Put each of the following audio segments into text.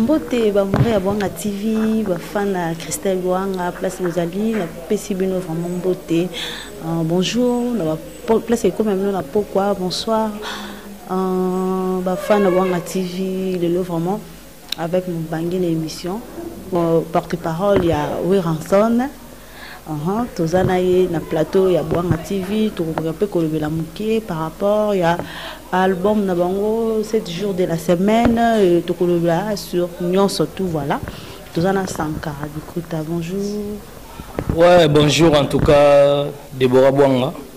mbote bamoure ya bwanga tv bafan ya christelle lwanga place bozali napesi bino vraiment mbote uh, bonjour na place ekomi ya bino na pokwa bonsoir uh, bafan ya bwanga tv lelo vraiment Avec Mubange na emission porte parole ya Werrason Uhum, toza na ye na plateau ya Bwanga TV tokokoka mpe kolobela moke par rapport ya album na bango 7 jours de la semaine euh, tokolobela sur nyonso tout voilà toza na Sankara Bikuta bonjour ouais bonjour en tout cas Deborah Bwanga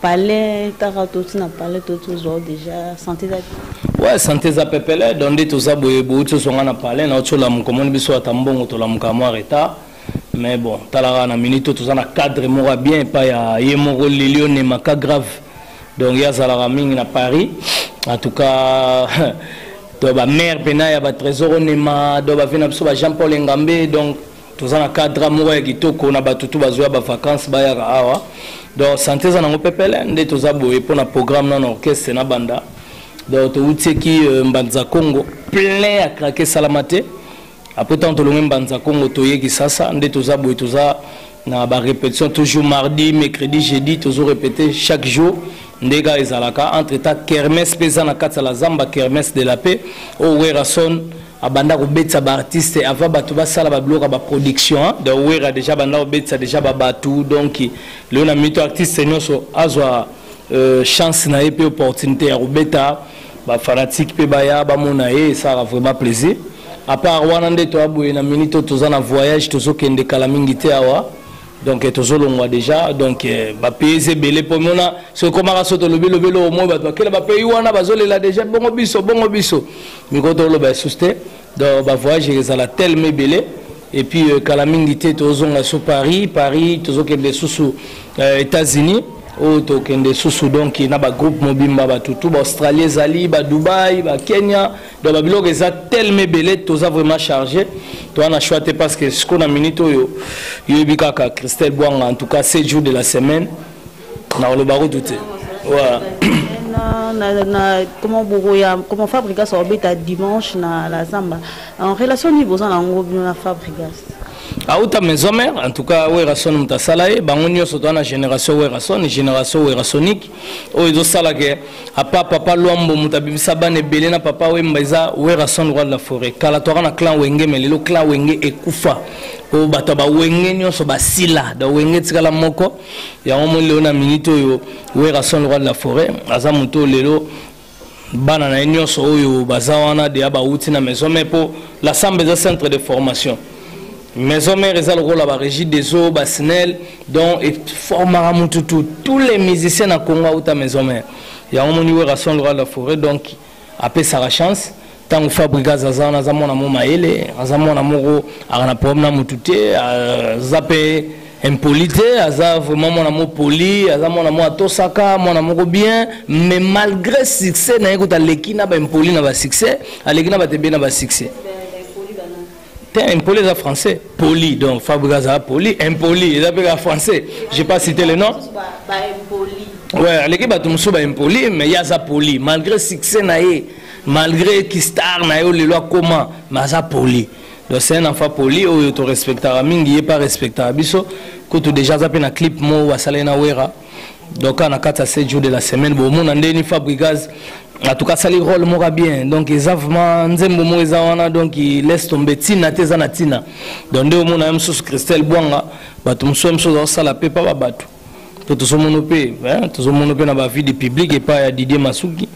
Palais kaka toti na palais toti ozwa deja sante eza ouais sante eza pepele donc nde toza boye bouti ozonga na palais na oti olamuka omoni biso ata mbongo tolamuka mwa retard mais bon talaka na minute oyo toza na cadre moko ya bien epai ya ye moko lilio nemaka grave donc ye azalaka mingi na paris en tout cas to bamare mpena ya batrésor onema do bavie na biso ba jean paul engambe donc toza na cadre moko ya kitoko na bato tu bazoya bavacance bayaka awa donc sante eza nango pepele nde toza boye mpo na programme nano orchestre na banda donc toutieki euh, mbanza congo plein ya krake esalama te apres ntango tolongi mbanza congo toye kisasa nde toza boye toza na barépétition toujours mardi mercredi jeudi tozo répéte chaque jour nde kaka ezalaka entre temps kermes mpe eza na kati ya la zamba kermes de la paix oyo oh, werason abanda kobetisa ba artiste avant bato basala babiloko ya baproduction donc wera déjà abanda kobetisa déjà babato donc lelo na mito artiste nyonso azwa euh, chance na ye mpe opportunité ya kobeta bafanatike mpe baya bamona ye esalaka vraiment plaisir apart wana nde toya boye na minute oyo toza na voyage tozokende kala mingi te awa donc eh, tozolongwa déjà donc eh, bapayes ebele mpo mona soki ekomaka so tolobi lobi eloko moi bato bakela bapayes wana bazolela déjà bongo biso bongo biso mikolo toloba esusu te donc bavoyage ekozala teleme ebele et puis euh, kala mingi te tozonga so paris paris tozokende lisusu euh, états-unis oyo tokende lisusu donc na bagroupe mobimba batutu baaustralie ezali badubai bakenya donc ba biloko eza tellement ebele toza vraiment chargé toza na choix te parce que sikoyo na minute oyo yoyebi kaka christelle bwanga en tout cas 7 jours de la semaine nakoloba kutu te voilà. na, na, na comment bokoya comment fabrigas obeta dimanche na la zamba en relation nini boza na yango bino na fabrigas auta maison mère en tout cas werrason moto asala ye bango nyonso toza na génération werrason génération werrasonique oyo ezosala ke apa papa lwambo moto abimisa bana ebele na papa wemba eza werason roi de la forêt kala toaka na clan wenge me lelo clan wenge ekufa po bato ya bawenge nyonso basila da wenge etikala moko yango moni lelo na minute oyo werason roi de la forêt aza moto oyo lelo bana na ye nyonso oyo baza wana deya bawuti na maison mare mpo la samba eza centre de formation maison mare eza lokola barégie des eaux basinel donc eformaka motu tu tous les musiciens na congo awuta maison mare yango moni werrason lokola la forêt donc apesaka chance ntango fabrigas aza wana aza mwana mo mayele aza mwana moko aka na problème na motu te aza mpe impoli te aza vraiment mwana mo poli aza mwana mo atosaka mwana moko bien mais malgré succès na ye kuta aleki na baimpoli na basuccès aleki na bato ebele na basuccès te impoli eza français poli donc fabrique azala poli impoli eza mpe kaka français j'ai pas cité le nom ouais aleki bato mosusu baimpoli mais ye aza poli malgré succès na ye malgré kistar na ye olelo akoma mais aza poli donc c'est un enfant poli oyo torespectaka mingi ye mpe arespectaka biso kutu déjà aza mpe na clip moko basalaki na wera donc na kati ya 7 jours de la semaine bomona nde ni fabrigaz en tout cas asali role moko bien donc eza vraiment nzembo moko eza wana donc laisse tombe ntina te eza na ntina donc nde omona ye mosusu christelle bwanga bato mosusu ya mosusu azakosala mpe mpa ba bato mpe tozomono mpe tozomono mpe na bavie du public epai ya didier masuki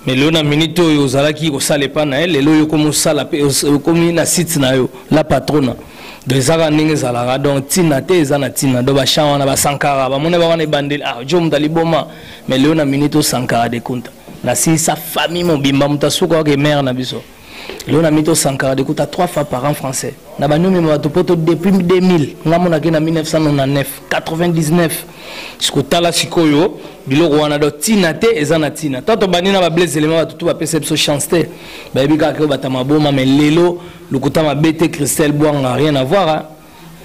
mais lelo na minute oyo ozalaki kosala epai na ye lelo oyo okomi osala mpe okomi na site na yo la patrona donc ezaka ndenge ezalaka donc ntina te eza na ntina donc bachan wana basankara bamona ba wana ebandeli ah jo moto aliboma mais lelo na minute osankara dekunta nasilisa famille mobimba moto asukaka emere na biso lelo na mito sankara de kuta trois fois par an français na baniomema bato poto depuis 2000 nga monaki na 1999 99 sikotala sikoyo biloko wana do ntina te eza na ntina to tobandi na bablaise elema bato to bapesa biso chance te bayebi kaka ke obata maboma me lelo lokuta mabe te christelle bwanga rien avoir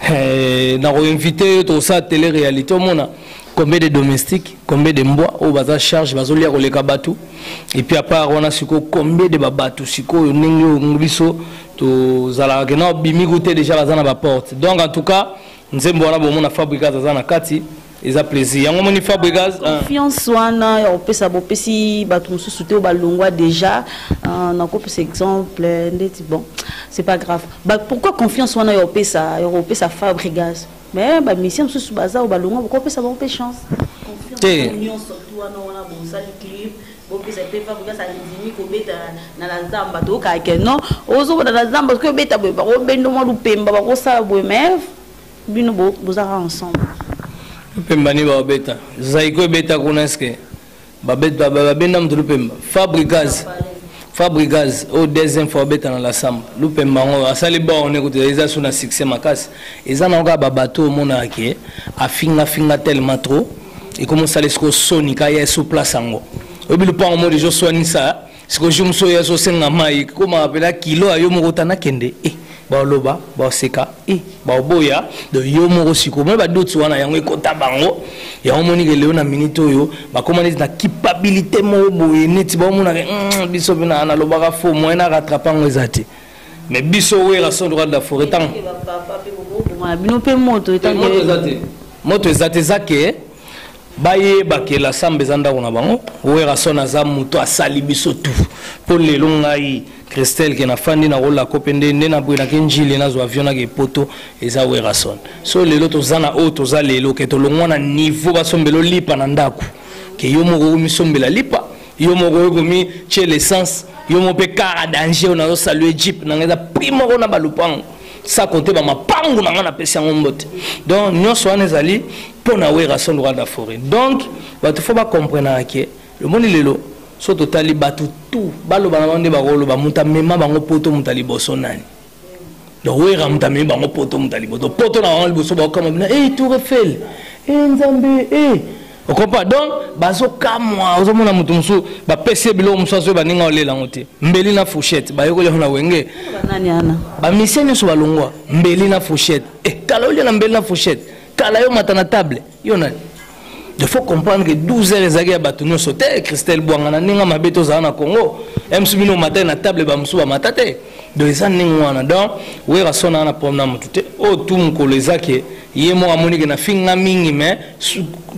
eh, na koinvite yo tokosala tele réalité omona combien de domestiques combien de mbwa oyo baza charge bazolia koleka bato epuis apart wana sikoyo combien de babato sikoyo ndenge oyo biso tozalaka kena obimi kute deja baza na baporte donc en tout cas nzembo wana bomona fabrigas aza na kati eza plaisir yango moni fabregas euh. confiance wana ya kopesa bopesi bato mosusu te oyo balongwa déjà euh, nakopesa exemple ndeti bon c'est pas grave ba, pourquoi confiance wana ya kopesa ya kopesa fabregas mais bamisien mosusu baza oyo balongwa bokopesa bango mpe chance te nyonso tu wana wana bosali clip bopesa mpe fabregas andimi kobeta na la zamba tokake non ozobota na zamba soki obeta boye bakobendo mwa lupemba bakosala boye mais bino bozaka ensemble lupemba ni babeta zaiko ebeta kuna eske babenda moto lupemba fabrigaz fabrigaz oyo deuxième fois abeta na lasamba lupemba yango asali borne kutu eza so na succès makasi eza nango kaka babato oyo omonaka ke afingafinga tellement trop ekomosala esiko soni kaya eso place yango oyebi lupango mo deja oswanisa siko jour mosusu oyo azosenga mai koma apela kilo ya yo moko ta nakende e baoloba baoseka e baoboya do yo moko siko moi badoti wana yango ekota bango yango omoni ke leo na minute oyo bakoma neti na kipabilite moko boye neti baomonaka mm, biso mpe nalobaka fo moyen na rattrape yango eza te mais biso wera son droit de la foret ntango bino mpe moto moto eza te eza ke bayeba ke la samba eza ndako na bango werrason aza moto asali biso tu mpo lelo ngai christelle ke nafandi na kolako mpe nde nde nabwelaki njili nazwa avion nake epoto eza werrason so lelo toza na oyo toza lelo ke tolongwa na niveau basombela olipa na ndako ke yo moko omisombela lipa yo moko okomi tie l'essence yo moko mpe kara danger oyo nazosalue jeep na ngai eza prix moko na balupango sa kote ba mapangu na nga na pesi yango mbote donc nyonso wana ezali mpo na werrason rwanda foret donc bato fo bakomprenaka ke lomoni lelo so totali bato tu baloba na bango nde bakoloba moto amema bango poto moto ya liboso nani donc wera moto amemi bango poto moto ya liboso poto na bango liboso baokama bina e tour efele e nzambe e okompa donc bazokamwa ozomona moto mosusu bapesi ye biloko mosusu azoyeba ndenge aolela yango te mbeli na fouchette bayekoli yango na wenge bamisie nyonso balongwa mbeli na fouchette e eh, kala olia na mbeli na fouchette kala yo mata na table yo nani il faut comprendre que 12 heures ezalaki ya bato nyonso te christelle bwanga na ndenge mabe tozala na congo msu bino omatai na table bamosusu bamata te donc eza ndenge wana donc werasona na problème na motu te oyo tu mokolo eza ke ye moko amoni ke nafinga mingi me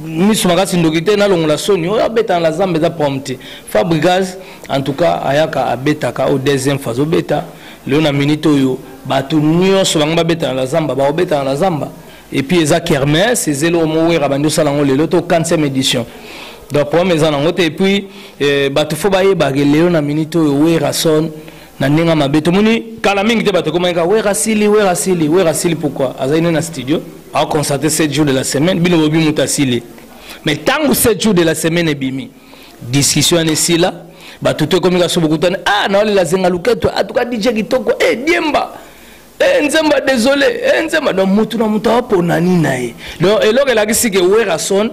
miso makasi ndoki te nalongola soni oyo abetana la zamba eza problème te fabrigas en tout cas ayaka abetaka oyo deuxième fois azobeta lelo na minute oyo bato nyonso bango babetana la zamba bakobetana la zamba epuis eza kermes ezeli oyo mowera bandi osala yango lelo to 4 édition donc problème eza nango te epuis eh, bato fo bayebake lelo na minute oyo werason na ndenge ya mabe tomoni kala mingi te bato ekomaki kaka wera asili wera asili wera asili pourkui azali nde na studio aoconstate 7 jour de la semaine bino bobi moto asili mais ntango 7 jour de la semaine ebimi discussion yana esila bato to ekomi kaka so bokutani a ah, naolela zenga luketo atuka ah, dije kitoko e eh, diemba Eh, nzemba désolé eh, nzemba donc mutu na mutu apona nini na ye donc eloko elakisi ke werason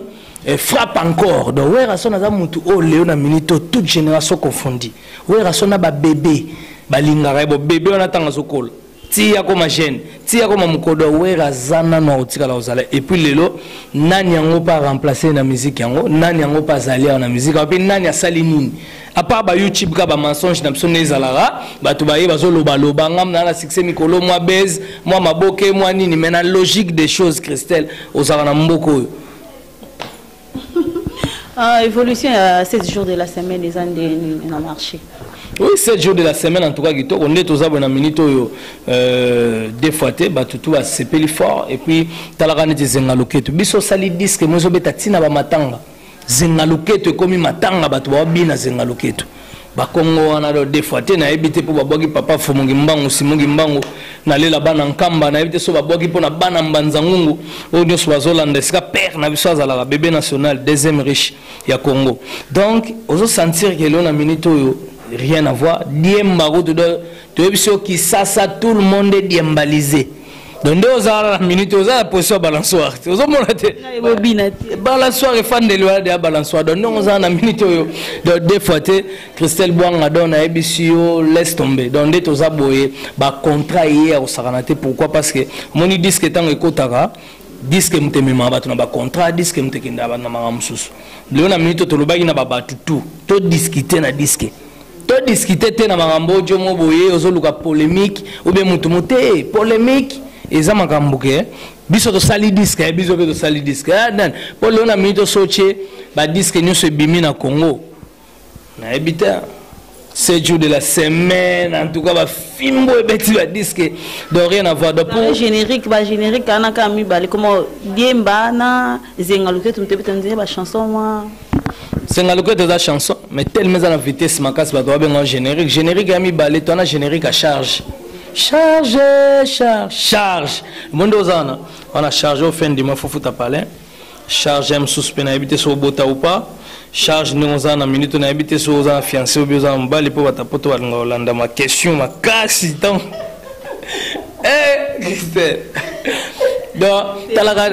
eh, frappe encore donc werason aza mutu oyo leo na minute oyo toute génération confondi werason na babebe balingaka ye bo bebe wana ntango azokola ti akoma jeune ti akoma mokodo ya wera aza nano akotikala kozala epuis lelo nani yango mpe aremplace na miziki yango nani yango mpe azali awa na miziki yango mpe nani asali nini à part ba youtube ka ba mensonge na biso nde ezalaka bato baye bazolobaloba ngam naa na succès mikolo mwa base mwa maboke mwa nini mais na logique des choses christelle ozalaka na mboka oyo ah, évolution ya 7 jours de la semaine eza nde nini na marché oui 7 jours de la semaine en tout cas kitoko nde toza boye na minute oyo euh, des fois te bato tu basepeli fort et puis talaka neti ezenga loketu biso osali disque mo ezobeta ntina bamatanga zenga loketo ekomi matanga bato babina zenga loketo bakongo wana do des fois te nayebi te mpo babwaki papa fumungi mbangu simungi mbangu nalela bana nkamba nayebi te so babwaki mpo na bana mbanza ngungu oyo nyonso bazolanda esika père na biso azalaka bebe national deuxième riche ya congo donc ozosentir ke leo na minute oyo rien à voir diemba kutu do toyebi so kisasa tout le monde est diembalisé donc nde ozala na minute oza na position ya balansoire te ozomona te balansoire efandeli wana deya balansoire donc ndenge ozala na minute oyo donc de fois te christelle bwanga donc nayebisi yo laisse tombe donc nde toza boye bacontrat eye ya kosakana te pourquoi parce que omoni diske ntango ekotaka diske moto ememaka bato na bacontrat diske moto ekendaka bato na makambo mosusu lelo na minute oyo tolobaki na babato tout todiskite na diske to discuter te na makambo ojo mo boye ozoluka polemique ou bien mutu mote polemique eza makambo ke biso tosali diske eh, biso mpe tosali diske eh, mpo lelo na mingi tosotie badiske nyonso ebimi na congo nayebi te sept jours de la semaine en tout cas bafimbo ebeti badiske donc rien à voir générique bagénérique anaka mibale koma diemba na zenga loketu mpe beta nzela bachanson mwa senga loketo eza chanson mais telema eza na vitesse makasi bato babenga générique générique ya mibale to wana générique ya charge charge charge charge monde oza wana wana charge au fin du mois faut futa palais charge ya mosusu mpe nayebi te soki obota ou pas charge ndenge oza na minute nayebi te soki oza na fiancé obi oza na mobali mpo batapoto balingaka olandama question makasi ntango eh Christelle donc talaka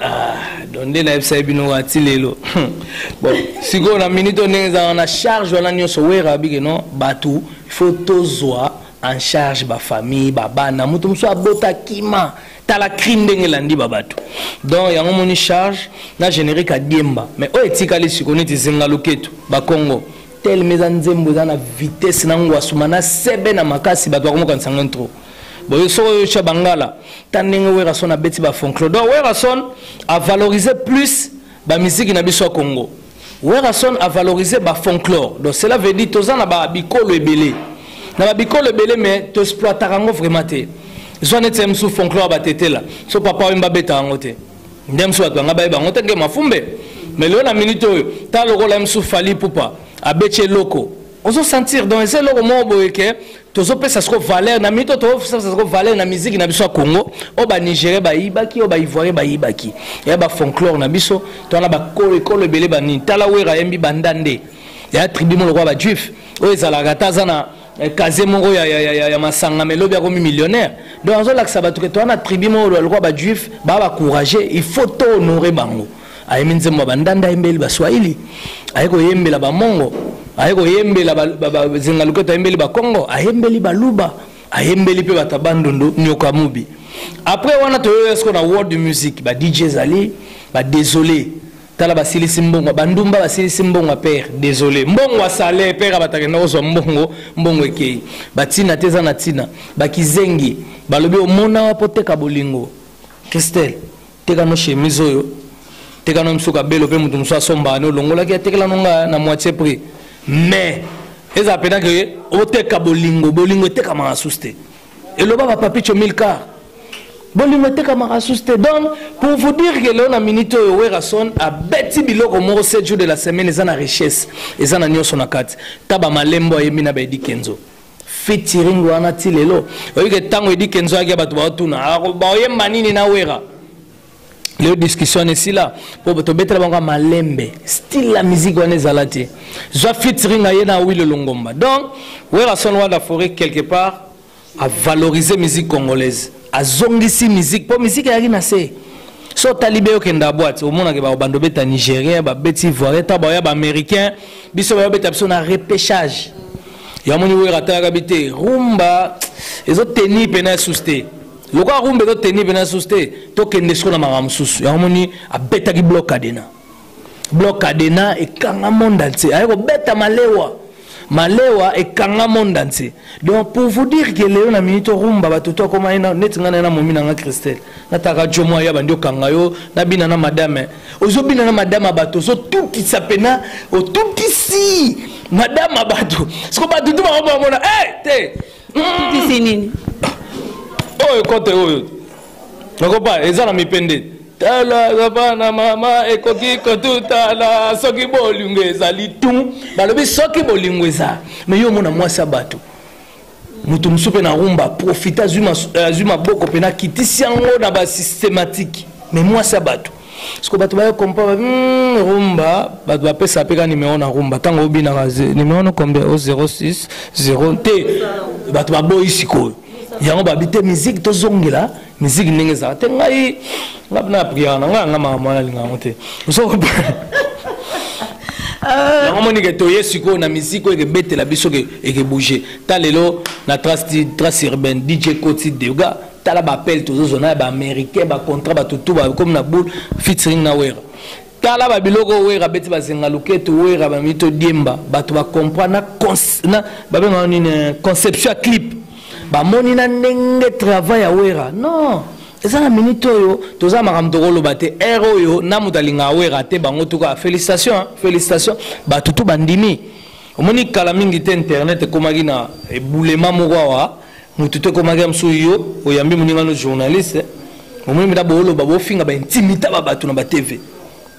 ah, donc nde nayebisaki bino wa ti lelo bon sikoyo na minute oyo ndenge ezalaka na charge wana nyonso wera abike non bato faut tozwa en charge bafamille babana moto mosusu abota kima tala crime ndenge elandi babato donc yango moni charge na générique adiemba mais oyo etikali sikoyo neti zinga loketu bakongo telema eza nzembo eza na vitesse na ngwasuma na sebe na makasi bato bakomokanisa ngo intro boye soko oyotya bangala ta ndenge werason abeti bafonclo donc werason avalorise plus bamiziki na biso ya congo werason avalorise bafonclore donc cela veut dire toza na babikolo ebele na babikolo ebele mais toexploitaka yango vraiment te zwa neti ya mosusu fonclore batetela so papa oyemba abetaka yango te nde mosusu bato banga baye bango te ke mafumbe mais lelo na minute oyo ta lokola mosusu fali pupa abeti eloko ozosentir donc eza eloko moko boye ke tozopesa siko valeur na minute oyo tozopesa siko valeur na miziki na biso ya congo oyo banigérien bayibaki oyo baivoirien bayibaki ya bafonklore na biso to wana bakolo ekolo ebele banini tala wera ayembi banda nde ya tribu mo lokola bajuif oyo ezalaka ata aza na Eh, kaze moko ya, ya, ya, ya masanga melobi akomi millionnaire donc azolakisa bato ke toa na tribu moko lokola bajuif baa bacourage il faut to honore bango ayemi nzembo ya bandanda ayembeli baswahili aye koyembela bamongo aye koyembela bazinga loketo ayembeli bakongo ayembeli baluba ayembeli mpe bato ya bandundu nyoka mobi après wana toyoya siko na world music ba dj ezali ba désolé tala basilisi mbongo bandumba basilisi mbongo père désolé mbongo asale père abatakenda kozwa mbongo mbongo ekei batina te eza na ntina bakizengi balobi omona wapo teka bolingo christelle teka no chemise oyo teka no mosuka belo mpe moto mosusu asombaka ne olongolaki atekela no nga na moitié prix mais ezala mpena ke oteka bolingo bolingo etekamaka susu te eloba ba papicho milcar bolingo etekamaka susu te donc pour vous dire que leo na minute oyo werrason abeti biloko moko 7 jours de la semaine eza na richesse eza na nyonso na kati ta bamalembo ayembi na baedi kenzo fitiring wana ti lelo oyike ntango edi kenzo ayaki ya bato baotuna baoyemba nini na wera leo discussion wana esila mpo tobetela bango ya malembe style ya miziki wana ezala te zwa fitring aye na wilo longomba donc werason wada foret quelque part avalorize musique congolaise azongisi musique mpo musique eyaki na se so otali be okenda boite omonaka baobanda obeta nigérien babeti ivoirien ta baoya baaméricain biso bayobeta biso na repêchage yamoni wera atalaka bi te rumba ezoteni mpena esusu te lokola kumbe toteni mpena susu te tokende siko na makambo mosusu yango moni abetaki blok cadena blok cadena ekanga monde entier aye kobeta malewa malewa ekanga monde entier donc pour vous dire que lelo na minute orumba bato to akoma neti ngai naye na momi na ngai christelle nataka jomo aya bandi okanga yo nabina na madame ozobina na madame ya bato ozotutisa mpena otutisi madame ya bato siko bato tu bakomamona e eh, te Tutisi nini? Oyo kote oyo. Nakopa eza na mipende. Tala papa na mama ekoki kotutala soki bolingo ezali tu. Balobi soki bolingo eza. Mais yo mona mwasi ya bato. moto mosusu mpe na rumba profite azwi maboko mpe nakitisi yango na basystematike me mwasi ya bato siko bato bayo kompa ba mm, rumba bato bapesa mpe ka nimero na rumba ntango obinaka nimero no combien o 06 0 te bato baboyi sikoyo yango babi te miziki tozongela miziki ndenge ezala te ngai ngai na priere na ngai yanga makambo wana alinga yango te euh, yango moni ke toye sikoyo na miziki oyo ekebetela biso ekebouge ta lelo na trace urbaine dj koti dega tala ba appel tozozwa na ya ba américain ba contrat bato tu bakomi na boule featuring na wera tala ba biloko wera abeti bazenga loketo wera bamii todiemba bato bacomprendre na babengaka nini eh, conception ya clip bamoni na ndenge travail ya wera non eza na minute oyo toza makambo tokoloba te ere oyo na moto alingaka wera te bango tuka félicitation félicitation bato tu bandimi omoni kala mingi te internet ekomaki na ebulema moko awa motu te ekomaki ya mosusu yo oyambi moninga no journaliste omoni mpenza booloba bofinga baintimita ba bato na batv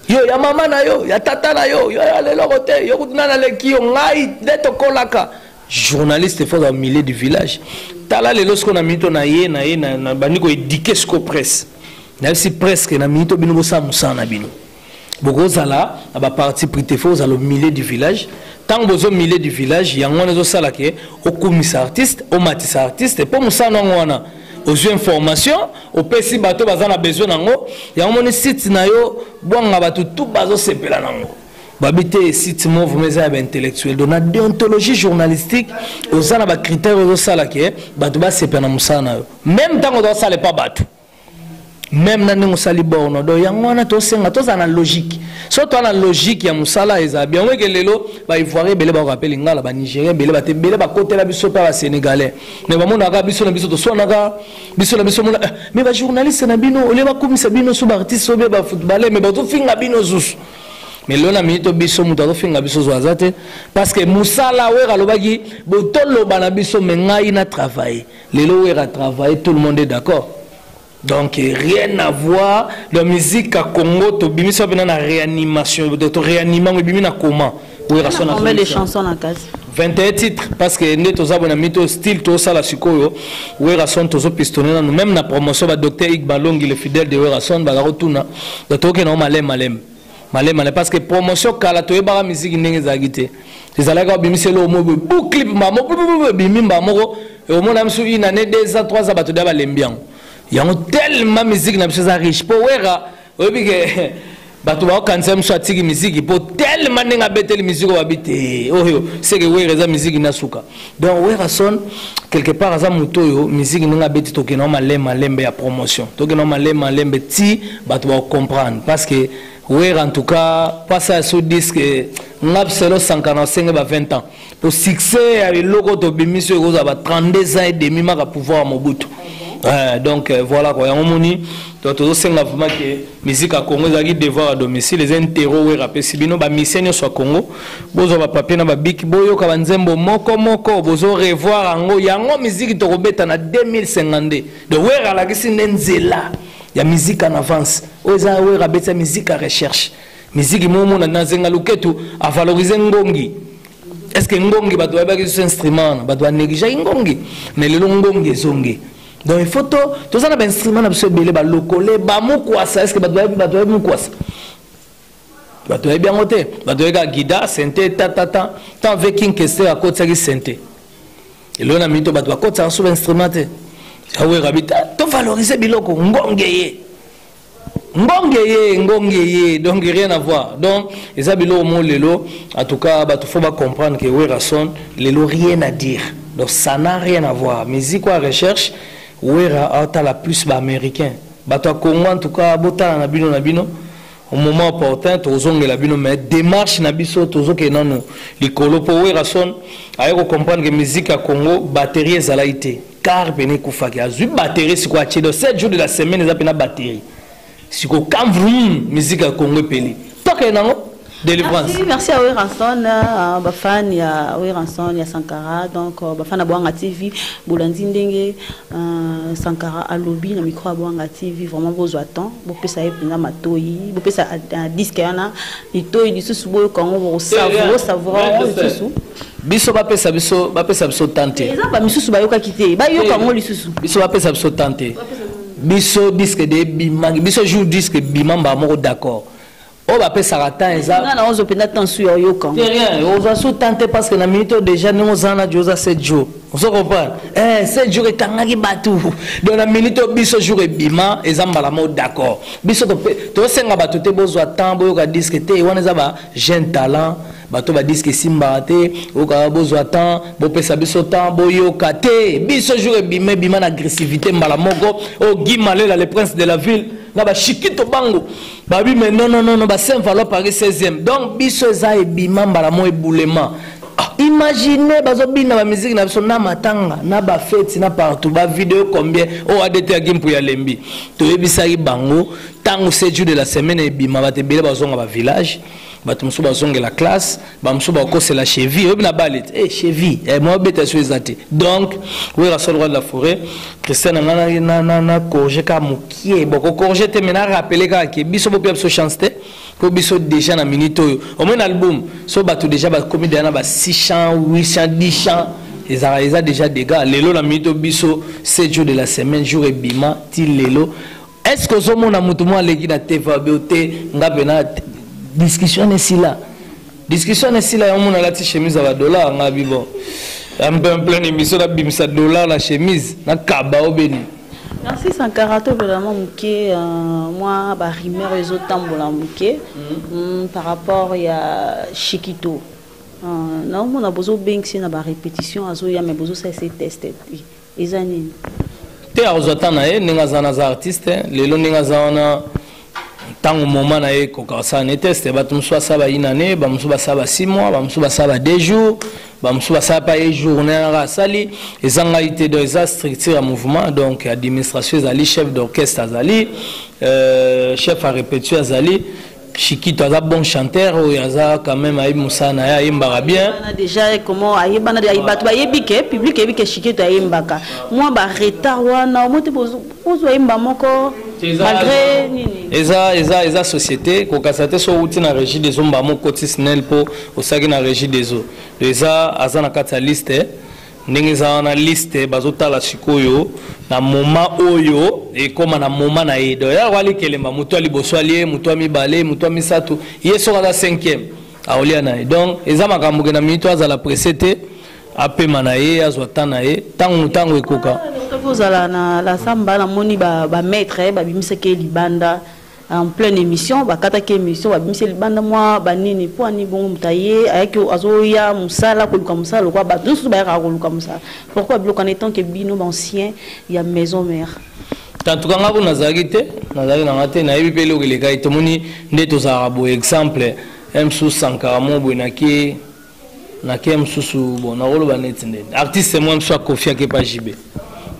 yo ya mama na yo ya tata na yo yo ya leloko te yo kutu nani aleki yo ngai nde tokolaka journaliste fo azala milieu du village tala lelo sikoyo na minito na ye na ye nabandi koedike sikoyo presse nayebisi presque na minito bino bosala mosala na bino bokozala na ba parti pris te fo ozala milieu du village ntango bozo milieu du village yango wana ezosala ke okumisa artiste omatisa artiste mpo mosala yango wana ozwi information opesi bato baza na besoin nango yango moni site na yo bwanga bato tu bazosepela nango babi te site mo vraimen eza ya baintellectuel donc na déontologie journalistique oza na bacritère ozosala ke bato basepela na mosala na yo meme ntango ozosala epa bato meme na ndenge osali borno do yango wana tosenga tozala na logique so toa na logique ya mosala eza biango eke lelo baivoirien ebele bakoka mpe lingala banigérien ebele bate ebele bakotela biso mpe basénégalais me bamonaka biso na biso toswanaka biso na biso mona eh, me bajournaliste na bino olie bakumisa bino so baartiste obe bafootballeur me bazofinga bino zusu me lelo na minito biso moto azofinga biso zwa aza te parce que mosala wera alobaki botoloba na biso me ngai na travaille lelo wera travaille tout le monde est d'accord donc rien à voir la musique à congo tobimisi wapi na na réanimation to réanima yango ebimi na comment wera sona combien de chansons na kasi 21 titres parce que nde toza bona mito style tosala sikoyo werason tozopistone nanu même na promotion badocteur igbalongi le fidèle de werason bazakotuna donc tokokenda ngo maleme maleme malemale parce que promotion kala toyebaka miziki ndenge ezalaki te ezalaki babimisa eloko moko bu clip mbamo ebimi mba moko omona biso une année deux ans trois ans bato deya balembi yango yango tellement miziki na biso eza riche mpo wera oyebi ke bato bakokanisa biso atiki miziki mpo tellement ndenge abeteli miziki oyo babi te oyo seke wera eza miziki na suka donc werrason quelque part aza moto oyo miziki ndenge abeti tokenda malembe malembe ya promotion tokenda malembe malembe ti bato bacomprendre parce que wera en tout cas pasi ya so disque nga selo sankana osenge ba 20 ans po succès ya eloko tobimisi oyo ekozala ba 32 ans et demi maka pouvoir ya mobutu Euh, donc euh, voilà quoi yango moni donc tozosenga vraiment ke miziki ya congo ezalaki devoir ya domicile eza intero wera apesi bino bamisien nyonso ya congo bozwa bapapie na babiki boyoka banzembo moko moko bozo revoir yango yango miziki tokobeta na 2052 de wera alakisi nde nzela ya miziki en avance oyo eza wera abetisa miziki ya recherche miziki momona na zenga luketu avalorise ngongi est ce que ngongi bato bayebaki lisusu instrument wana bato banegligeaki ngongi mais lelo ngongi ezongi donc il faut to toza na bainstrument na biso ebele balokole bamukwasa est ce que bato bayebi mukwasa bato bayebi yango te bato oyeka gida sente tatata tant ve king kester akotisaki sente elo na mito bato bakotisaka sous instrument te awerabi tovalorize biloko ngonge ye ngonge ye ngonge ye donc rien à voir donc eza biloko mo lelo en tout cas bato fo bacomprendre ke werason lelo rien à dire donc ça n'a rien à voir musique oa recherche wera aotala plus baaméricain bato ya congo en tout cas botala na bino na bino au moment opportun tokozongela bino mais démarche na biso tozokende nanu likolo mpo werrason aye kocomprendre ke musique ya congo batterie ezalaki te car pene ekufaki azwi batterie sikoyo atye donc 7 jour de la semaine eza mpena batterie sikoyo kamvrum musique ya congo epeli tokende nango délivrance merci, merci à Weranson euh, bafan ya Weranson ya Sankara donc euh, bafan ya Boanga TV bolandi ndenge Ahh sankara alobi na micro ya boanga TV vraiment bozwa temps bopesa ye penza matoyi bopesa disque wana litoyi lisusu boyoka yango bokosavoura savoura yango lisusu biso bapesa biso bapesa biso temps te eza bamisusu bayokaki te bayoka yango lisusu biso bapesa biso temps te biso disque de bimaki biso jour disque bima mbaa moko d'accord oyo bapesaka temps eza nga na ozo mpenza temps su ya oyoka te rien ozwa su temps te parce que na minute oyo déjà ndenge oza na jo oza se jo ozo comprendre eh se jour ekangaki bato donc na minute oyo biso jour ebima eza mbala moko d'accord biso tosenga bato te bozwa temps boyoka disque te wana eza ba jeune talent Bato ba disque esimbaka te, oyoka bozwa temps, bopesa biso temps, boyoka te. Biso jour ebima ebima na agressivité mbala moko. Oh Guy Malela le prince de la ville na ba Chikito bango. Ba bi mais non non non ba Saint Valois Paris 16e. Donc biso eza ebima mbala moko eboulema. Ah, imaginez bazo bina ba musique na biso na matanga, na ba fête na partout, ba vidéo combien oh ADT ya Gimpu ya Lembi. Toyebisaki bango tango 7 jours de la semaine ebima ba te bele bazonga ba village. bato mosusu bazongela classe bamosusu bakosela cheville oyebi na bale te e cheville eh, mwa beta so eza te donc wera sol roi de la forêt christian na ngai na corge kaka mokie boko corge te mai na rappele kaka ke biso bopia biso chance te mpo biso déjà na minute oyo omoi na album so bato déjà bakomi deja na ba 600 800 10 chant ezalaka eza déjà dégât lelo na minute oyo biso 7 jours de la semaine jour ebima ti lelo est ce que ozomona motu mwa aleki na tevabio te nga pena discussion esila discussion esila yango mona alati chemise ya badollar nga bibo pleine émission nabimisa dollar na chemise nakaba obeni merci sankara tobelama moke euh, mwa barimeur ezotambola moke mm, mm, par rapport ya chikito euh, naomona bozobengisi na barépétition azoya mai bozosalisa teste te eza nini te akozwa temps na ye ndenge aza na aza artiste lelo ndenge aza wana ntango moma na ye ekoka kosala ne teste bato mosusu basala bayina ne bamosusu basala ba 6 mois bamosusu basala ba 2 jours bamosusu basala pa ye journée yanaka asali eza ngai te donc eza structure ya mouvement donc administration ezali chef d'orchestre azali euh, chef ya répétition azali Chikito aza bon chanteur oyo aza quand même ayebi mosala na ye ayembaka bien déjà comment ayebana de bato bayebi ke public ayebi ke Chikito ayembaka mwa ba retard wana omoi te bozwa yemba moko malgré nini eza eza eza société kokasa te so outi na régie des eaux mbamo okoti snel mpo osaki na régie des eaux eza aza na kati ya liste eh. ndenge eza wana liste bazotala sikoyo na moma oyo ekoma na moma na ye donc yako alikelemba moto ya liboso alie moto ya mibale moto ya misato ye soki aza cinquième aolia na ye donc eza makambo ke na minito azala presse te apema na ye azwa temps na ye ntango ntango ekoka ozala na la samba namoni bamaître ba eh, babimisaki ye libanda en pleine emission bakataki emission babimisi libanda mwa banini mpo ani bongo moto aye ayaki azoya mosala koluka mosala lokola bato nyonso bayakaka koluka mosala pourquoi biloko wana etant ke bino bancien ya maison mère tantuka ngai mpo nazalaki te nazalaki na ngai te nayebi mpe eloko elekaki tomoni nde tozalaka boye exemple msu sankara mo boye nake na kin mosusu bon nakoloba neti nde artiste mwa mosusu akofiaki epa jb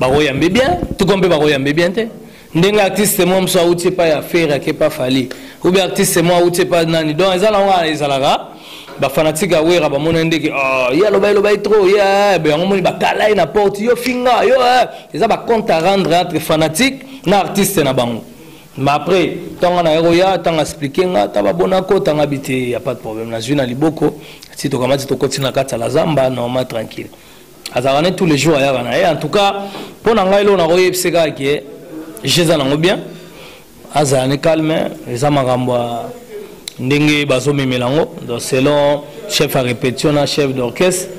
bakoyambe bien tuko mpe bakoyambe bien te ndenge artiste mwa mosusu auti epai ya fere ake epa fali obe artiste mwa auti epa nani donc eza nango wana ezalaka bafanatike ya wera bamonani ndeke oh, ye alobai lobai trop ye eh, eh, yango moni bakala ye na porte yo finga yo eh. eza bacompte à rendre entre fanatique na artiste na bango Mais après, tant qu'on a roya, tant expliqué nga, tant bonako, tant habité, y a pas de problème. Na zuna liboko, si to kamati to koti na kata la zamba, normal tranquille. Azarane tous les jours ayara na. Et en tout cas, pour na ngai lo na roya pseka qui est, je zana ngo bien. Azarane calme, les amagambo ndenge bazo memelango, donc selon chef à répétition na chef d'orchestre.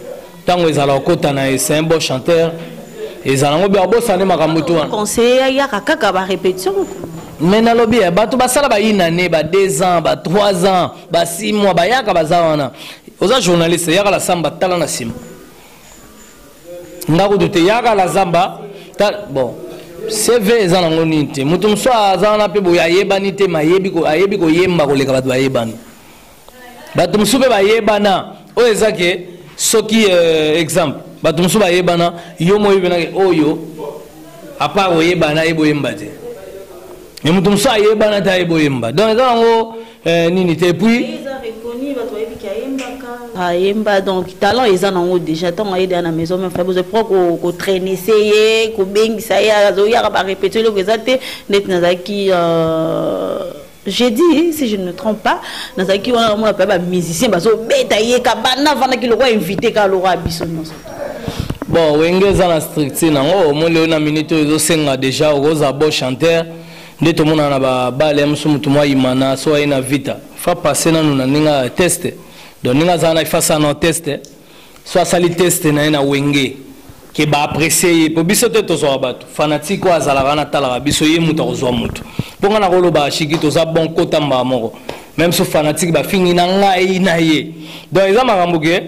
Tango ezala okota na c'est un bon chanteur. Ezala ngo bia bosane makambo tu wana. Conseiller ya kaka ba répétition. Mais na lobi ya bato basala ba une année, ba 2 ans, ba 3 ans, ba 6 mois, ba yaka baza wana. Oza journaliste yaka la samba tala na sima. Ndako doute yaka la zamba bon cv eza nango nini te moto mosusu aza wana mpe boye ayebani te mayebi ayebi koyemba koleka bato bayebani bato mosusu mpe bayebana oyo eza ke soki euh, exemple bato mosusu bayebana yo moyebi mpenake oyo apart oyebana ye boyemba te me moto mosusu ayebana te aye boyemba donc eza yango euh, nini te epuis ayemba donc talent eza nango déjà ntango ayede ya na maison me fa bozo pro kotrainese ye kobengisa ye azoyaka barepetio eloko eza te ndeti nazalaki euh, Jeudi si je ne me trompe pas nazalaki wana namona mpe ba musicien bazobeta ye kabanda avandaki lokola invité kaka lokola biso nyonso bon wenge eza na structure nango omoni oyo na minute oyo ezosenga déjà okoza bo chanteur nde tomonana na babale ya mosusu motu mwa imana so aye na vita fa passe nanu na ndenge ya teste donc ndenge azala na ifa sana teste so asali teste na ye na wenge ke ba apprécier ye mpo biso te tozwaka bato fanatique oyo azalaka na talaka biso ye moto akozwa moto mpo ngai nakolobaka shiki toza bon kota mbaa moko meme so fanatique bafingi na ngai na ye donc eza makambo ke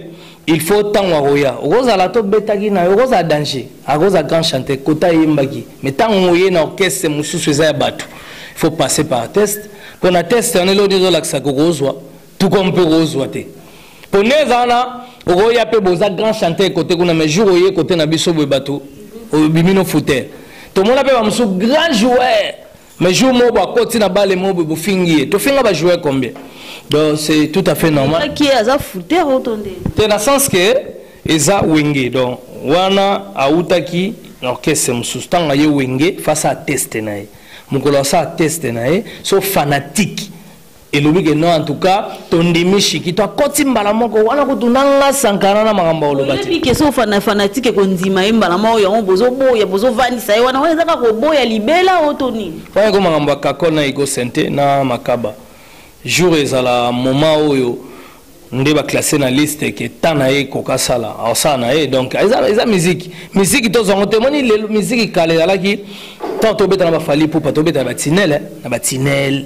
il faut ntango akoya okozala tobetaki na yo okozala danger akozala grand chanteur kota ayembaki mais ntango oye na orchestre mosusu eza ya bato il faut passer par test mpo na test wana elodi ezolakisa kokozwa tuko mpe okozwa te pone eza wana okoya mpe boza grand chanteur kote kuna mais jour oye kote na biso boye bato obimi no fouter tomona mpe bamosusu grand joueur mais jour moko bakoti na bale moko boye bofingi ye tofinga bajoueur combien donc c'est tout à fait normal aza fouter otonde te na sens que eza wenge donc wana awutaki na orchestre mosusu ntango aye wenge fasa ateste na ye mokolo asala teste na ye so fanatike elobi ke non en tout cas tondimi shikito akoti mbala moko wana kutu na nga sankara na makambo ya koloba te ke so fana fanatike kondima ye mbala moko yango bozoboya bozovandisa ye wana wana eza kaka koboya libela oyo to nini wana eko makambo ya kakol na ego sente na makaba jour ezala moment oyo nde baklasse na liste ke ta na ye ekoka asala asala na ye donc eza, eza miziki miziki tozwa yango te moni lelo miziki kala ezalaki ntango tobeta na bafali pupa tobeta na batinele na batinele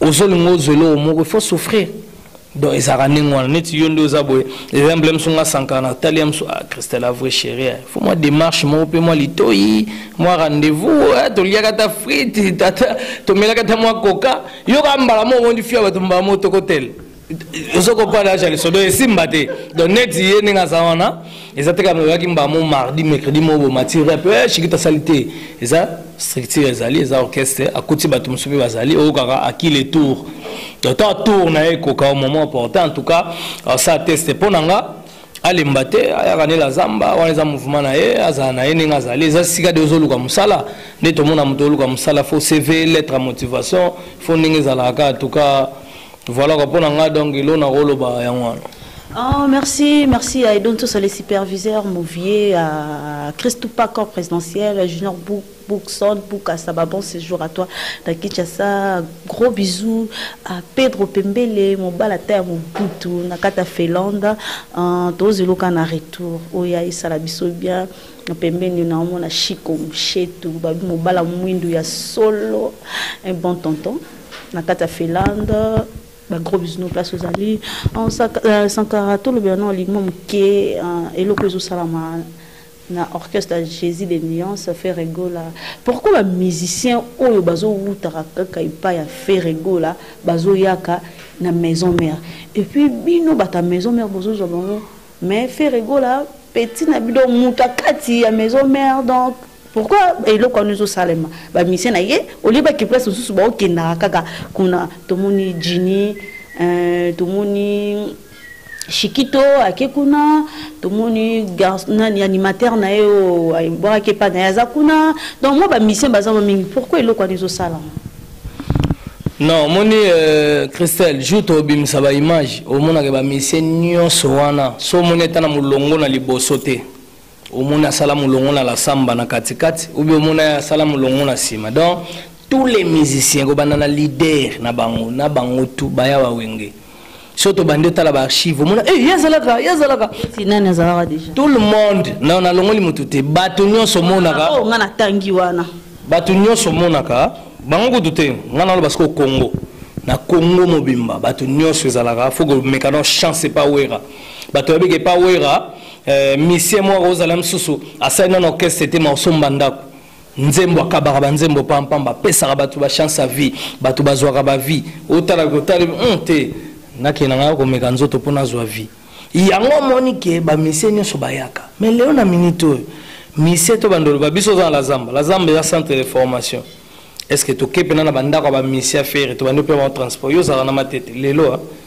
ozolinga ozwa eloko moko il faut souffrir donc ezalaka ndenge wana neti yo nde oza boye eza mbela mosu nga sankara na tali ya mosu ah christela vrai chéri eh. fo mwa démarche moko mpe mwa litoi mwa rendez-vous eh, toliaka ata frite tomelaka ata mwa koka yoka mbala moko ondi fia bato mbala moko tokotele ozo comprendre acha liso donc esimba te donc neti ye ndenge aza wana eza te kaka oyaki mbamo mardi mercredi moko bomatire mpe eh, shikita asali te eza structure ezali eza orchestre akuti bato mosusu mpe bazali oyokaka aki le tour donc ta tour na ye ekoka au moment opportun en tout cas sa teste mpo na nga alemba te ayaka nde la zamba wana eza mouvement na ye azala na ye ndenge azali eza sika de ozoluka mosala nde tomona moto oluka mosala fo cv lettre ya motivation fo ndenge ezalaka kaka en tout cas Voilà quoi pona nga donc ilo na koloba yango wana. Oh, merci, merci à Edon Tosa, les superviseurs, Mouvier, à Christou Pacor présidentiel, à Junior Bouk, Boukson, Boukassa, bah, bon séjour à toi, à Kinshasa, gros bisous à Pedro Pembele, mon balata, mon boutou, Nakata Felanda, en Tozeloka, na retour, Oya, oh, Issa, la bisous bien, pembeni na omona chiko mshetu babi mobala mwindu ya solo un bon tonton na kati ya Finlande ba gros bisous place ozali en euh, Sankara tout le bien non ligmo moke euh, eloko ezo salama na orchestre ya jésus de nuance ferregola pourquoi bamusicien oyo bazowutaka kaka epai ya ferregola bazoyaka na maison mère epuis bino bato ya maison mère bozozwa bango mais ferregola petit na bino moto akati ya maison mère donc pourquoi eloko wana ezosalema bamisie na ye olie bake place mosusu baokendaka kaka kuna tomoni jini euh, tomoni shikito ake kuna tomoni nani animateur na ye oyo oh, ebwakaki epai na ye aza kuna donc mwa bamisien baza mwa mingi pourquoi eloko wana ezosalama non omoni euh, christelle jour tobimisa baimage omonaka bamisie nyonso wana so omoni ata na molongo na liboso te omoni asala molongo na la samba na katikati ou bien omoni asala molongo na nsima donc tous les musiciens kobanda na leader na bango na bango tu baya wawenge so tobandi otala baarchive omona e eh, ye azalaka ye azalaka nani azalaka deja tout le monde na nalongoli motu te bato nyonso omonaka ah, oh, nga natangi wana bato nyonso omonaka bango kutu te nga naloba sikoyo congo na congo mobimba bato nyonso ezalaka fo komekana chance epa wera bato babiki epa wera Eh, misie mwa kozala misusu asali nano orchestre te ma osomba ndako nzembo akabaka banzembo pampamba apesaka bato bachance ya vie bato bazwaka bavie otala kotali hmm, te nakenda ngai komeka nzoto mpo nazwa vie yango omoni ke bamisie nyonso bayaka me leo na minute oyo misie to bandoloba biso oza na lazamba lazamba eza centre de formation est ce que toke mpena na bandako ya bamisie ya fere tobandi mpe bango transport yo ozalaka na matete lelo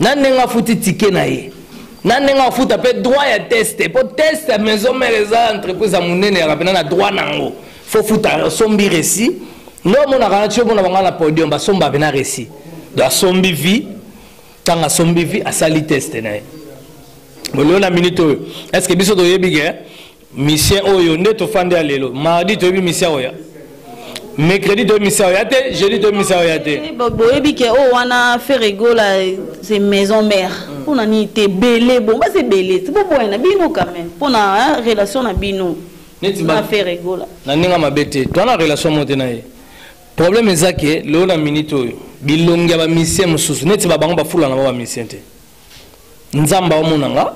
na ndenge afuti tike na ye na ndenge afuta mpe droit ya teste mpo teste ya maison mare eza entreprise ya monene yaka mpena na droit na yango fo futa osombi resi nde omonaka na tio mona banga na podium basomba mpena resi do asombi vie ntango asombi vie asali teste na ye bolio na minute oyo estce biso toyebi ke Misien oyo nde tofandi ya lelo. Mardi toyebi misien oyo. Mercredi toyebi misien oyo te, jeudi toyebi misien oyo te. Boyebi ke oyo wana Ferregola c'est maison mère. Mpo na nini te bele bon basi ebele ti boboya na bino quand même mpo na relation na bino neti na Ferregola. Na ndenge mabe te. Twana relation mo te na ye. Problème eza ke lelo na minute oyo bilongi ya ba misien mosusu neti ba bango bafulana ba ba misien te. nzambe aomona nga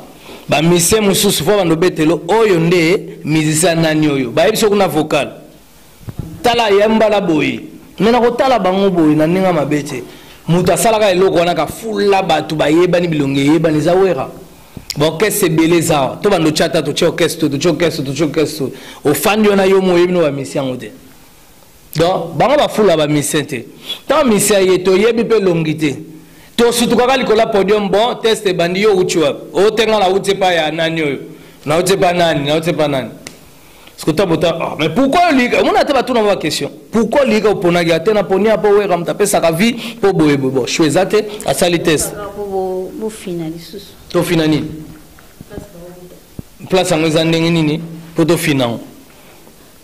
bamisie mosusu mpo bando betelo oyo nde mizisia nani oyo bayebi soki na vocal tala ya mbala boye me nakotala bango boye na ndenge mabe te moto asalaka eloko wana kafula bato bayebani bilongi eyebani eza wera baorkestre ebele eza awa to bando tyata totye orkestre to totye orkestre totye orkestre ofandi wana yo mo oyebi no bamisi yango te donc bango bafula bamisien te ntango misi aye toyebi mpe elongi te tosutukaka likolo ya podium bon test ebandi yo outi wapi otenga na uti epai ya nani oyo na uti epai nani na uti epai nani sikotambota oh, mais pourquoi oliyika omona ata batuna ba question pourquoi oliyika oponaki ate na poni apo wera moto apesaka vie mpo boye boye bo shu eza te asali test tofina nini place yango eza ndenge nini mpo tofina yango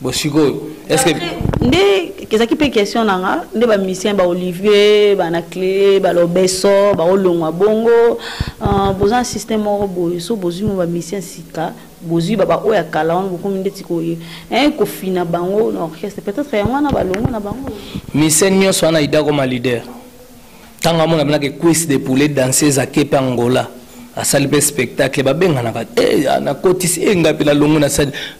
bon sikoyo eske nde ezalaki mpe question na nga nde bamusicien ba olivier banaclé balobeso baolongwa bongo euh, boza na système moko boye so bozwi mo bamusicien sika bozwi babaoyo ya kala wana bokomi ndeti koye eh, kofina bango na orchestre peut-être yango wana balongo na bango musicien nyonso wana idakoma leader ntango amona mpenaka equise de poulet danseuse ake mpe angola asali mpe spectacle babenganaka eh, nakotisi enga mpe nalongo nasali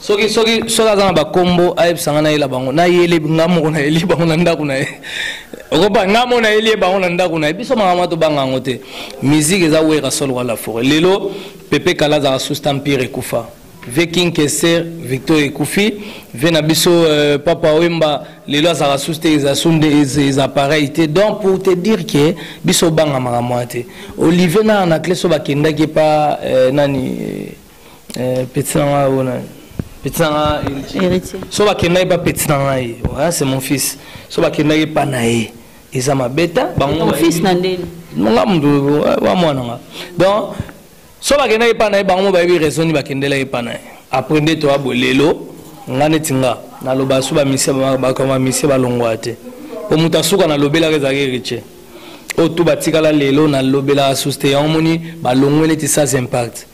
soki soki soki aza na bakombo ayebisa ngai nayela bango nayeli ngai moko nayeli bango na ndako na ye okopa ngai moko nayeli ye bango na ndako na ye biso makambo ya tobanga yango te miziki eza wera solo wa la foret lelo pepe kala azalaka susta mpire ekufa vie king keser victor ekufi vie na biso euh, papa wemba lelo azalaka susu te eza su nde eza pareil te donc pour te dire ke biso obanga makambo wana te olivier na anacleso bakendaki epa euh, nani euh, eh, petit na ngai oyo nani petit na ngai héritier so bakendaki ba petit na ngai ouais, c'est mon fils so bakendaki epa na ye eza mabeta bango fils na ndeni nga mutu wa mwana nga donc so bakendaki epa na ye bango mo bayebi raison ni bakendelaki epa na ye après nde toya bo lelo nga neti nga naloba so bamisie bakoma misie balongwa te po moto asuka nalobelaka ezalaki héritier oyo tu batikala lelo nalobelaka suste yango moni balongwe neti sans impact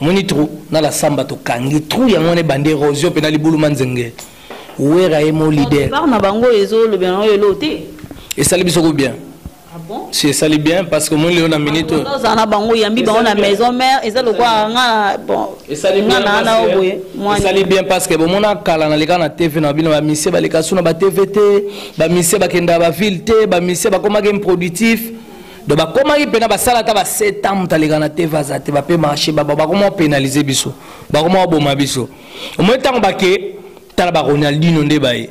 Omoni trou na la samba to kangi trou yango ne bande erosion pe na libulu manzenge. Wera ye mo leader. Par na bango ezo lobela na yo elo te. Esali biso ko bien. Ah bon? Si esali bien parce que moi leo na minute. Oyo za na bango yambi bango na maison mère eza lokwa nga bon. Esali bien na na oboye. Esali bien parce que bomona kala na leka na TV na bino ba mise ba leka suna ba TV te, ba mise ba kenda ba ville te, ba mise ba koma game productif. do bakomaki mpena basala ata ba 7 ans moto aleka na tv aza te bape marché baba bakoma penalize biso bakoma baboma biso omoi ntango bake tala ba ronaldino nde baye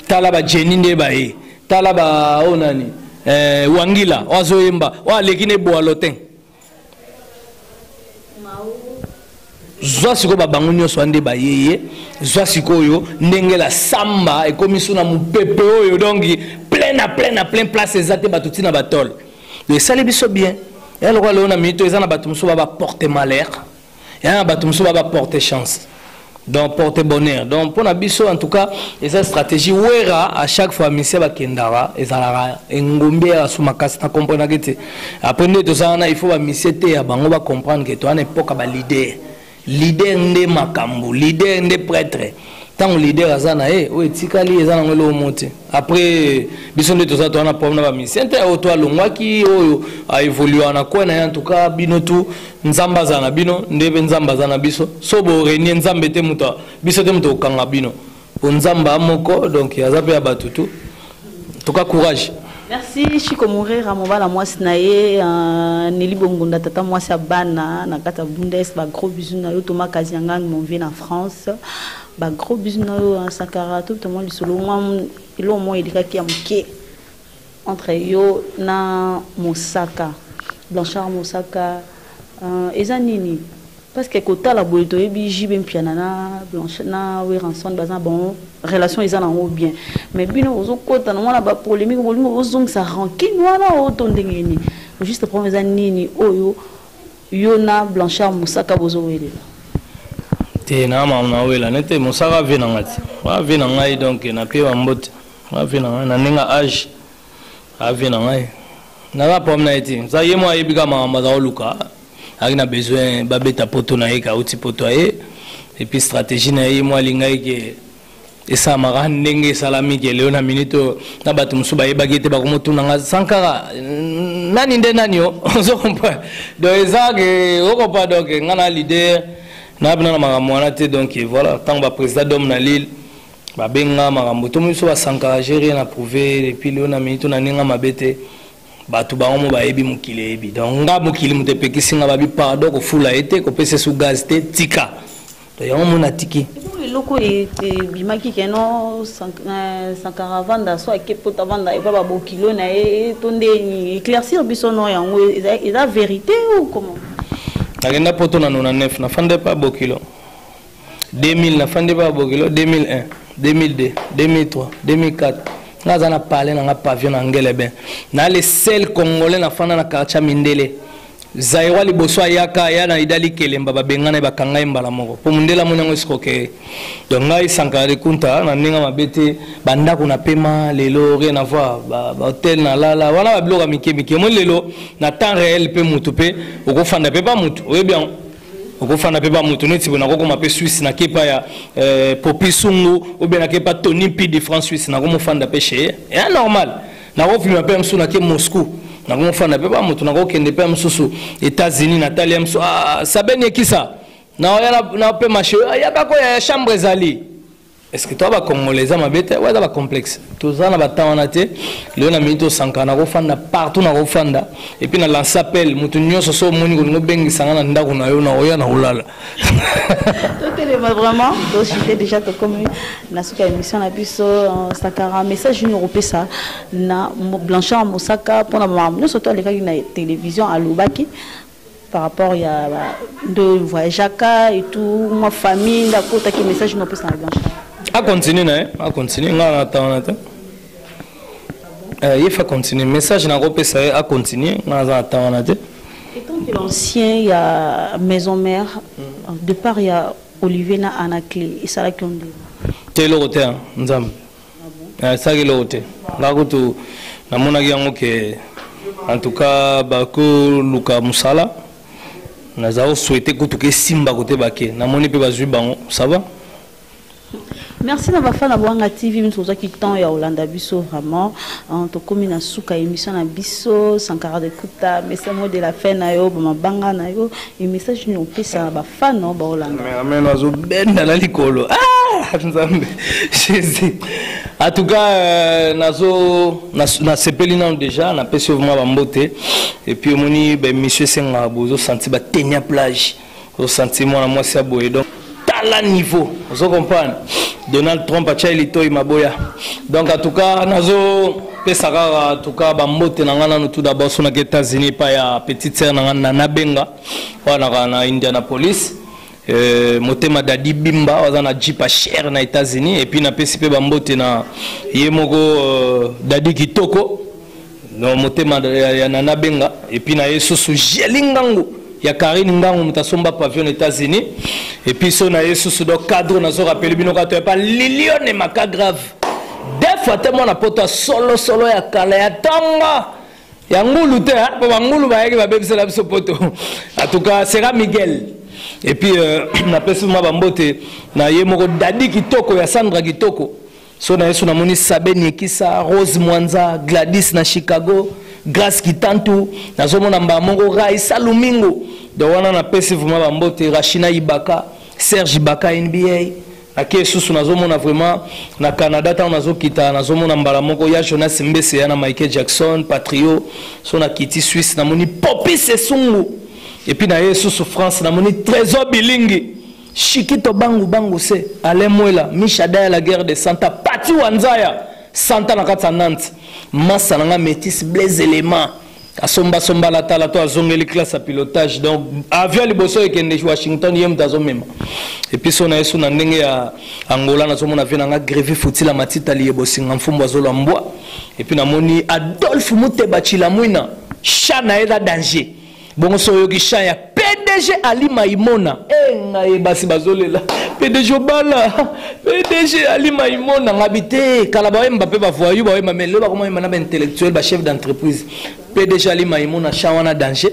tala ba jeni nde baye tala ba oyo oh nani eh, wangila oyo azoyemba oyo aleki na eboalo te zwa sikoyo babango nyonso ande bayeye zwa sikoyo ndenge la samba ekomi so na mopepe oyo donc plein na plein na plein place eza te bato ntina batole esali biso bien ya lokola lelo na minito eza na bato mosusu ba baporte malheur ya na bato mosusu baba porte chance donc porte bonheur donc mpo na biso en tout cas eza stratégie wera à chaque fois misie bakendaka ezalaka engombi ya basu makasi na comprenaki te après nde toza wana il faut bamisie te ya bango bacomprendre ke towana epoka balider lider nde makambo lider nde prêtre ntango leader aza na ye oyo etikali eza nango eloko mo te après biso nde toza towana problème na bamisien te oyo to alongwaki oyo aévoluaka na kwe na ye antuka bino tu nzambe aza na bino nde mpe nzambe aza na biso so borenie nzambe te moto biso te moto kokanga bino mpo nzambe a moko donc aza mpe ya bato tu en tout cas courage merci chiko morera mobala mwasi na ye euh, neli bongunda tata mwasi ya bana na kati ya bundes bagros bisu na yo toma kaziangan mon vie na france bagros bisu na yo euh, sankara to toma lisolo mwa eloko moko elekaki ya moke entre yo na mosaka blanchard mosaka euh, eza nini Parce que kotala boye toyebi JB Mpiana na Blanche na Werrason baza bon relation eza na ngo bien mais bino ozo kota na mwana ba polemique bolingo bozongisa rancune wana o to ndenge ni juste problème eza nini oyo yo na Blanchard Mosaka bozo welela te na mama na wela nete Mosaka vie na ngati wa vie na ngai donc na pe ba mbote wa vie na ngai na nenga age a vie na ngai naza problème na ye te sa ye mo ayebi kaka makambo aza koluka ayaki na besoin babeta poto na ye kauti poto aye epuis stratégie na ye ye mo alingaki ke esalamaka ndenge esalami ke leo na minute oyo na bato mosusu bayebaki ete bakomotunanga sankara nani nde nani o ozo comprendre donc eza ke okopa donc ngai na leader nayabina na makambo wana te donc voilà ntango baprésident dome na lille babenga makambo to biso basankara je rien approuve depuis leo na mini to na ninga mabe te bato bango mo bayebi mokili eyebi donc nga mokili moto epekisi nga babi pardon kofula ye te kopesa esu gaz te tika to yango mo natiki eloko ebimaki keno eh, sankara avanda so ake poto avanda epa babokilo na ye to nde éclaircir biso no yango eza vérité ou comment nakenda poto na 99 nafanda epa bokilo 2000 na fandi ba bokilo 2001 2002 2003 2004 nga aza na palais na nga pavillon na ngelebe na le seul congolais na fanda na quartier mindele zairwa liboso ayaka aya na idali kelemba babengana ye bakanga ye mbala moko mpo mondele amoni yango esikoke donc ngai sankara likunta na ndenge mabe te bandako na pema lelo rien avoir bahotel na lala wana babiloko ya mike mike omoni lelo na temps réel mpe motu mpe okofanda mpe mpa motu oyebi yango okofanda mpe bamoto neti boye nakokoma mpe swisse nake epa ya eh, popi sungu obe nake epa tony mpi de france swisse nakomofanda mpe che ye ya normal nakofilma mpe ya mosusu nake moscou nakomofanda mpe bamoto nakokende mpe ya mosusu états-unis natali ya mosusu ah, sabeni ekisa naoya na mpe mashe ayaka koya ya chambre ezali Est-ce que toi ba congolais eza mabe te oyo eza ba complexe toza na batemps wana te lelo na minute osanka na kofanda partout na kofanda et puis na lance appel moto nyonso so omoni kolingi obengisa nga na ndako na yo na oya na kolala totelema vraiment toshite déjà tokomi na suka ya émission na biso euh, sakara message nini okopesa na blanchard mosaka mpona makambo nyonso to alekaki na télévision alobaki par rapport ya nde voyageaka et tout mwa famille nde akotaki message no opesa na blanchard acontinue na ye acontinue ngai natangana te eh, ye fa continue message nakopesa ye acontinue ngai naza natangana te étant que l'ancien ya maison mère mm. de part ya olivier na anaclé esalaki yo nde te eloko te nzambe Nasaki eloko te nga kutu namonaki yango ke en tout cas bakoluka mosala naza koswete kutu kesimba kote bake namoni mpe bazwi bango ça va merci na bafana bwanga tv miso ozwaki temps ya kolanda biso vraiment tokomi na suka ya émission na biso sankara de kuta mesemo de la fin na yo bamabanga na yo Et message ni opesa ba fan no ba olanda. Mais amen azo benda na likolo. Ah nzambe. Jésus. En tout cas euh, nazo na, na sepeli nanu déjà na pesi vraiment ba mbote et puis omoni ba monsieur senga bozo senti ba tenia plage. Ozo senti mwana mwasi ya boye donc tala niveau ozo comprendre donald trump atyai litoi maboya donc en tout cas nazo pesa kaka en tout cas bambote na ngai nano tout d'abord so nake états-unis epai ya petite sere na ngai na nabenga wana kaka na indianapolis Euh, motema dadi bimba aza na jipa chere na états-unis epuis napesi mpe bambote na ye moko euh, dadi kitoko no motema ya, ya nana benga epuis na ye susu jeli ngangu ya karine ngangu moto asomba pavion états-unis epuis so na ye susu do cadre nazo rapele bino kaka toyapa lilione maka grave def ate mwana poto ya solosolo ya kala ya tonga ya ngulu te mpo bangulu bayaki babebisela biso poto en tout cas sera miguel epuis euh, napesi mwa bambote na ye moko dadi kitoko ya sandra kitoko so na yesu namoni sabe niekisa rose mwanza gladis na chicago grace kitantu nazomona mbaa moko raisa lumingo do wana napesi vraimen bambote rachina ibaka serge ibaka nba nake esusu nazomona vraimen na canada ntango nazokita nazomona mbala moko ya jonas mbese ya na michael jackson patrio so nakiti swisse namoni popis esungu epuis na ye esusu france namoni trésor bilingi Shikito bangu bangu se Alain Mwela Misha Daya la guerre de Santa Pati Wanzaya Santa na kati ya Nantes masa na nga métis Blaise Element asomba somba la tala to azongeli classe ya pilotage donc avion liboso ekende washington ye moto azomema episo na yesu na ndenge ya angola nazomona vie na nga grevi futila matita liye bosinga mfumbu azolwa mbwa epuis namoni adolphe muteba chilamwina sha na ye eza danger Bongo so oyoki chant ya PDG Ali Maimona. Eh ngaye basi bazolela. PDG obala. PDG Ali Maimona ngabite kala ba wemba pe ba voyou ba wemba mais lelo bakoma wemba na ba intellectuel ba chef d'entreprise. PDG Ali Maimona chant wana danger.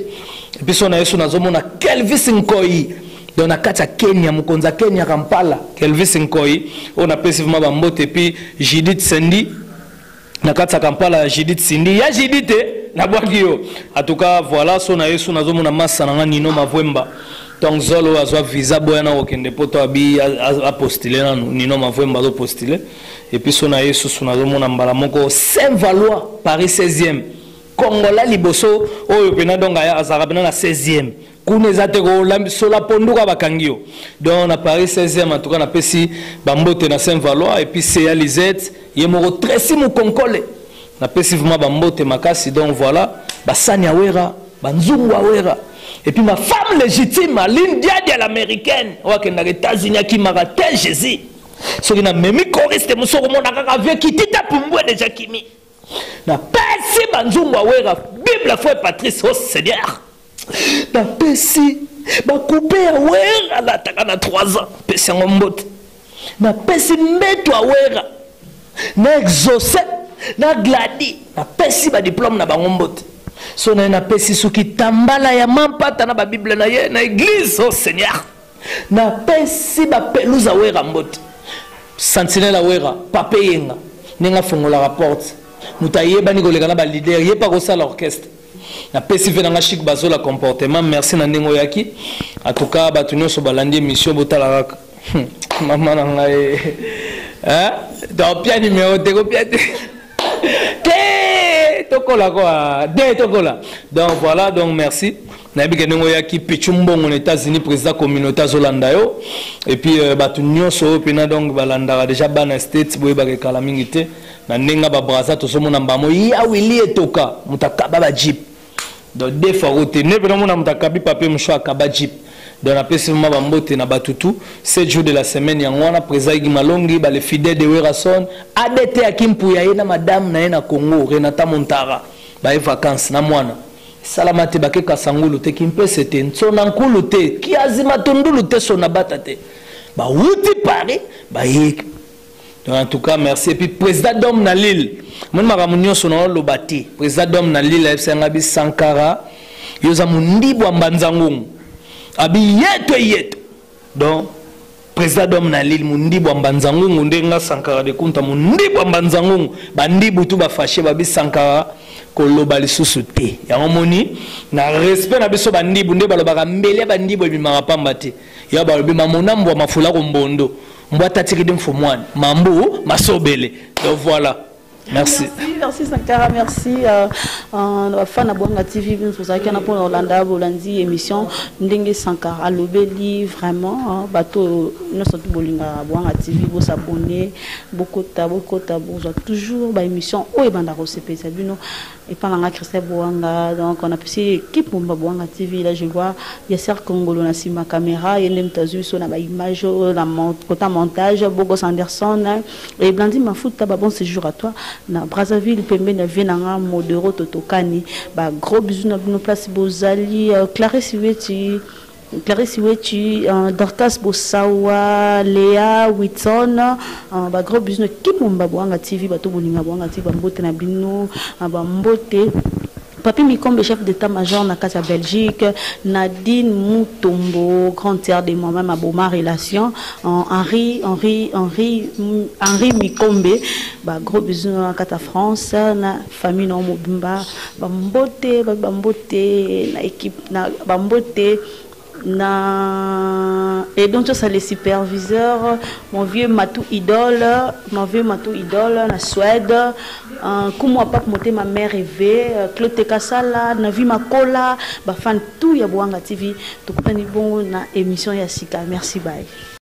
Et puis son na yesu nazomona Kelvis Nkoyi. Donc na kati ya Kenya mokonzi ya Kenya Kampala Kelvis Nkoyi oyo napesi vraiment ba mbote puis Judith Sendi na kati ya kampala ya judith sindi ya judith te nabwaki yo atuka voilà so na yesu nazomona masa na nga nino mavwemba donc zolo oyo azwa visa boya na kokende poto abi apostile nanu nino mavwemba azopostile epuis so na yesu so nazomona mbala moko saint valois paris 16e kongola liboso oyo mpena donc azalaka mpena na 16e kuna eza te kolambisola ponduka bakangi yo donc na paris 16e en tout cas napesi bambote na saint valois epuis seya lisette ye moko tresi mokonkole napesi vraimen bambote makasi donc voilà basani ya wera banzungu ya wera epuis ma femme légitime aline diadi ya l'américaine oyo akendaka états-unis akimaka te jésus soki namemi koriste mosu okomona kaka vie kitita pumbue deja kimi napesi banzungu ya wera bible foi patrice o oh seigneur napesi bakupe ya wera alataka na 3 ans pesi yango mbote napesi mbeto ya wera na exauce na gladi napesi badiplome na bango mbote so naye napesi soki tambala ya mampata na babible na ye na eglise o oh seigneur napesi bapeluza wera mbote santinela wera pape yenga ndenge afungolaka porte moto ayebani koleka na balider ye mpe akosala orchestre na pesi ve na nga chic bazola comportement merci na ndenge oyaki en tout cas bato nyonso balandi émission botala kaka hmm, mama na ngai eh? topia numero te kopia te te tokola kua de tokola donc voilà donc merci nayebi ke ndenge oyaki pichu mbongo na états-unis président communauté azolanda yo epuis euh, bato nyonso oyo mpena donc balandaka déjà bana states boyebaka ekala mingi te Na ndenga ba braza tozo mona mbamo ya Willy etoka moto akaba ba jeep donc de fois rote ne pena mona moto akabi papier mouchoir akaba jeep donc napesi vraiment ba mbote na batu tout 7 jours de la semaine yango wana président Iggy Malongi ba le fidèle de Werrason ADT ya Kimpuya ye na madame na ye na Congo Renata Montara ba ye vacances na mwana salama te bake kasangulu te kimpese te nsona nkulu te kiazi matundulu te sona bata te bawuti paris baye en tout cas merci et puis président d'homme na lille moni makambo nyonso na oloba te président d'homme na lille ayebisa ngai bi sankara yo oza mondibu ya mbanza ngongo abi yeto yeto donc président d'homme na lille mondibu ya mbanza ngongo nde nga sankara de kunta mondibu ya mbanza ngongo bandibu tu bafashe babi sankara koloba lisusu te yango moni na respect na biso bandibu nde balobaka mbele ya bandibu ebimaka pamba te ya balobi mamona mbwa mafula ko mbondo mbwa tatikidi mfumwani mambu masobele donc voilà merci merci sankara merci euh, euh, bafana bwanga tv biso tozalaki wana mpona kolanda bolandi émission ndenge sankara alobeli vraiment euh, bato nyonso tu bolingaka bwanga tv bosabone bokota bokota bozwa toujours baémission oyo ebanda kosepelisa bino Epa na nga Christelle Buanga donc on a pesi équipe Bomba Buanga TV là je vois Yasser Kongolo na sima camera yende mtu azui so na ba image euh, na kota montage Bogos Anderson hein. et Blandine Mafuta ba bon séjour à toi na Brazzaville pembe na vie na nga modero totokani ba gros bisous na bino place bozali euh, Clarisse Weti Clarisse Wechi, euh, Dorcas Bosawa, Lea Whitson, euh, ba gros bisous kimomba boanga TV bato bolinga boanga TV bambote na bino euh, bambote Papi Mikombe, chef d'état-major na kati ya Belgique, Nadine Mutombo, grande sœur de moi-même à Boma Relation, Henri, Henri, Henri, Henri Mikombe, bah, gros bisous na kati ya France, na Famille na yo mobimba bambote, babi bambote na equipe na bambote na et donc ça les superviseurs mon vieux Matou Idole mon vieux Matou Idole na Suède euh, kumwa pape motema mère rêvé euh, Claude Tekasala na vie makola ba fan tout ya Boanga TV tokutani bongo na émission ya sika merci bye